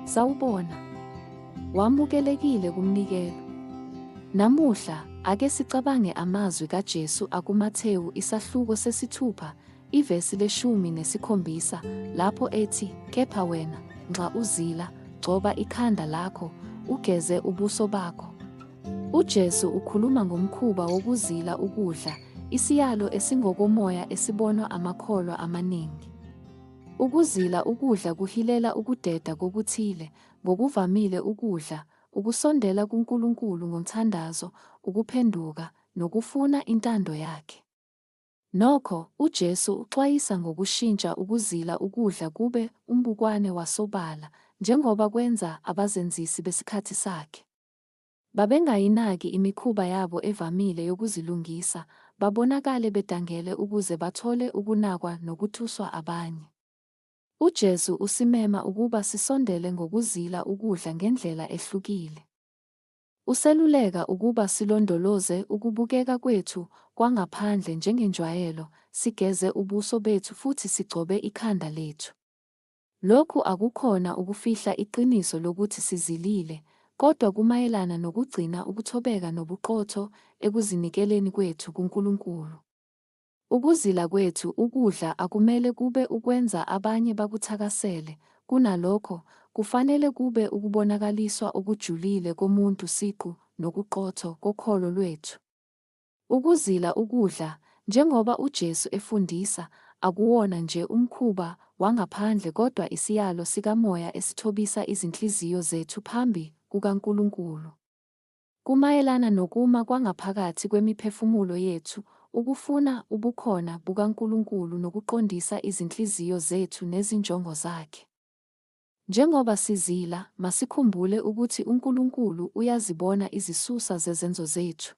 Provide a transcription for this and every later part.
Sawubona. Wamukelekile kumnikelo. Namuhla ake sicabange amazwi kaJesu akuMathewu isahluko sesithupha Ivesi leshumi nesikhombisa lapho ethi, Kepha wena, nxa uzila, gcoba ikhanda lakho, ugeze ubuso bakho. UJesu ukhuluma ngomkhuba wokuzila ukudla, isiyalo esingokomoya esibonwa amakholwa amaningi. Ukuzila ukudla kuhilela ukudeda kokuthile, ngokuvamile ukudla, ukusondela kuNkulunkulu ngomthandazo, ukuphenduka, nokufuna intando yakhe. Nokho, uJesu uxwayisa ngokushintsha ukuzila ukudla kube umbukwane wasobala, njengoba kwenza abazenzisi besikhathi sakhe. Babengayinaki imikhuba yabo evamile yokuzilungisa, babonakale bedangele ukuze bathole ukunakwa nokuthuswa abanye. UJesu usimema ukuba sisondele ngokuzila ukudla ngendlela ehlukile. Useluleka ukuba silondoloze ukubukeka kwethu kwangaphandle njengenjwayelo, sigeze ubuso bethu futhi sigcobe ikhanda lethu. Lokhu akukhona ukufihla iqiniso lokuthi sizilile, kodwa kumayelana nokugcina ukuthobeka nobuqotho ekuzinikeleni kwethu kuNkulunkulu. Ukuzila kwethu ukudla akumele kube ukwenza abanye bakuthakasele, kunalokho, kufanele kube ukubonakaliswa okujulile komuntu siqu nokuqotho kokholo lwethu. Ukuzila ukudla, njengoba uJesu efundisa, akuwona nje umkhuba wangaphandle kodwa isiyalo sikamoya esithobisa izinhliziyo zethu phambi kukaNkulunkulu. Kumayelana nokuma kwangaphakathi kwemiphefumulo yethu, ukufuna ubukhona bukaNkulunkulu nokuqondisa izinhliziyo zethu nezinjongo zakhe. Njengoba sizila, masikhumbule ukuthi uNkulunkulu uyazibona izisusa zezenzo zethu.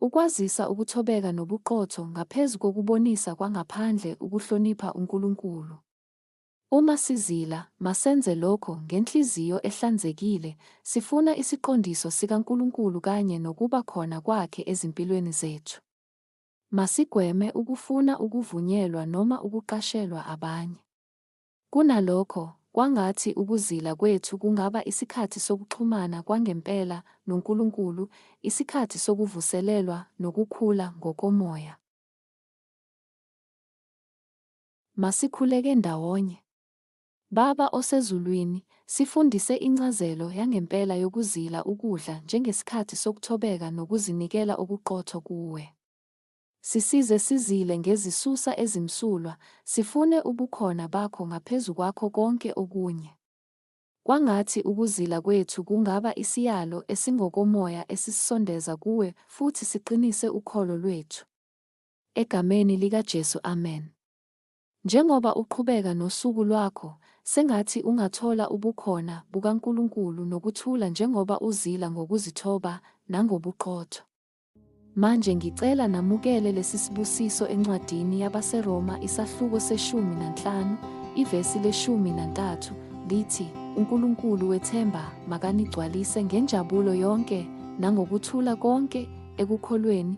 Ukwazisa ukuthobeka nobuqotho ngaphezu kokubonisa kwangaphandle ukuhlonipha uNkulunkulu. Uma sizila, masenze lokho ngenhliziyo ehlanzekile, sifuna isiqondiso sikaNkulunkulu kanye nokuba khona Kwakhe ezimpilweni zethu. Masigweme ukufuna ukuvunyelwa noma ukuqashelwa abanye. Kunalokho, kwangathi ukuzila kwethu kungaba isikhathi sokuxhumana kwangempela noNkulunkulu, isikhathi sokuvuselelwa nokukhula ngokomoya. Masikhuleke ndawonye. Baba oseZulwini, sifundise incazelo yangempela yokuzila ukudla njengesikhathi sokuthobeka nokuzinikela okuqotho kuWe. Sisize sizile ngezisusa ezimsulwa, sifune ubukhona baKho ngaphezu kwakho konke okunye. Kwangathi ukuzila kwethu kungaba isiyalo esingokomoya esisisondeza kuWe futhi siqinise ukholo lwethu. Egameni likaJesu amen. Njengoba uqhubeka nosuku lwakho, sengathi ungathola ubukhona bukaNkulunkulu nokuthula njengoba uzila ngokuzithoba nangobuqotho. Manje ngicela namukele lesisibusiso encwadini yabaseRoma isahluko seshumi nanhlanu, ivesi leshumi nantathu, lithi, UNkulunkulu wethemba makanigcwalise ngenjabulo yonke nangokuthula konke ekukholweni,